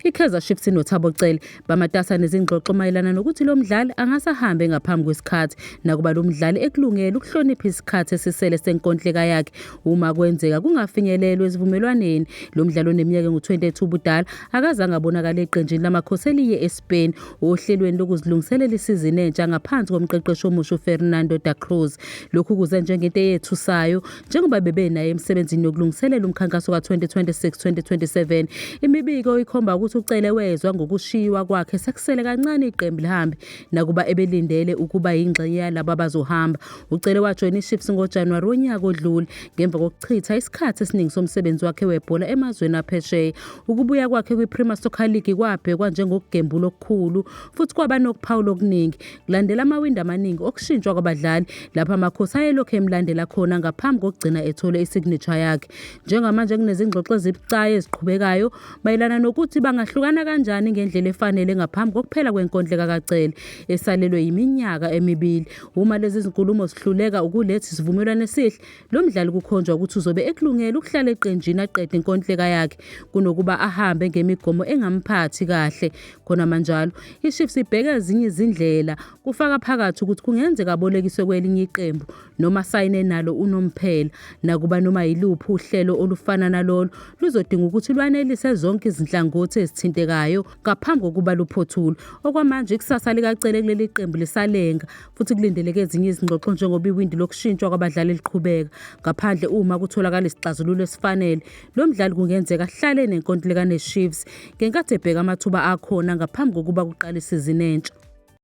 I-Kaizer Chiefs inoThabo Cele bamatasa nezingxoxo mayelana nokuthi lo mdlali angase ahambe ngaphambi kwesikhathi nakuba lo mdlali ekulungele ukuhlonipha isikhathi esisele senkontileka yakhe uma kwenzeka kungafinyelelwe esivumelwaneni. Lo mdlali oneminyaka engu-22 ubudala akazange abonakale eqenjini laMakhosi eliye eMkhupheni ohlelweni lokuzilungiselela isizini entsha ngaphansi komqeqeshi omusha uFernando da Cruz. Lokhu kuze njengento eyethusayo njengoba bebenaye emsebenzini yokulungiselela umkhankaso ka-2026-2027. Imibiko ikhomba ukuthi uCele wezwa ngokushiywa kwakhe sekusele kancane iqembu lihambe nakuba ebelindele ukuba yingxenye yalaba abazohamba. UCele wajoyina iShips ngoJanuwari wonyaka odlule ngemva kokuchitha isikhathi esiningi somsebenzi wakhe webhola emazweni aphesheya. Ukubuya kwakhe kwiPremier Soccer League kwabhekwa njengokugembula okukhulu futhi kwaba nokuphawula okuningi kulandela amawindi amaningi okushintshwa kwabadlali lapho amakhosi ayelokhu emlandela khona ngaphambi kokugcina ethole isignature yakhe. Njengamanje kunezingxoxo ezibucayi eziqhubekayo mayelana nokuthi bangahlukana kanjani ngendlela efanele ngaphambi kokuphela kwenkondleka kaCele esalelwe yiminyaka emibili. Uma lezi zinkulumo zihluleka ukuletha isivumelwano esihle Lo mdlali kukhonjwa ukuthi uzobe ekulungele ukuhlala eqenjini aqede inkontileka yakhe kunokuba ahambe ngemigomo engamphathi kahle. Khona manjalo, iChiefs ibheka ezinye izindlela kufaka phakathi ukuthi kungenzeka abolekiswe kwelinye iqembu noma asayine nalo unomphela. Nakuba noma yiluphi uhlelo olufana nalolu luzodinga ukuthi lwanelise zonke izinhlangothi ezithintekayo ngaphambi kokuba luphothulwe. Okwamanje ikusasa likaCele kuleli qembu lisalenga futhi kulindeleke ezinye izingxoxo njengoba iwindi lokushintshwa kwabadlali liqhubeka ngaphandle uma kutholakala isixazululo esifanele lo mdlali kungenzeka ahlale nenkontileka nechiefs ngenkathi ebheka amathuba akhona ngaphambi kokuba kuqale isizini entsha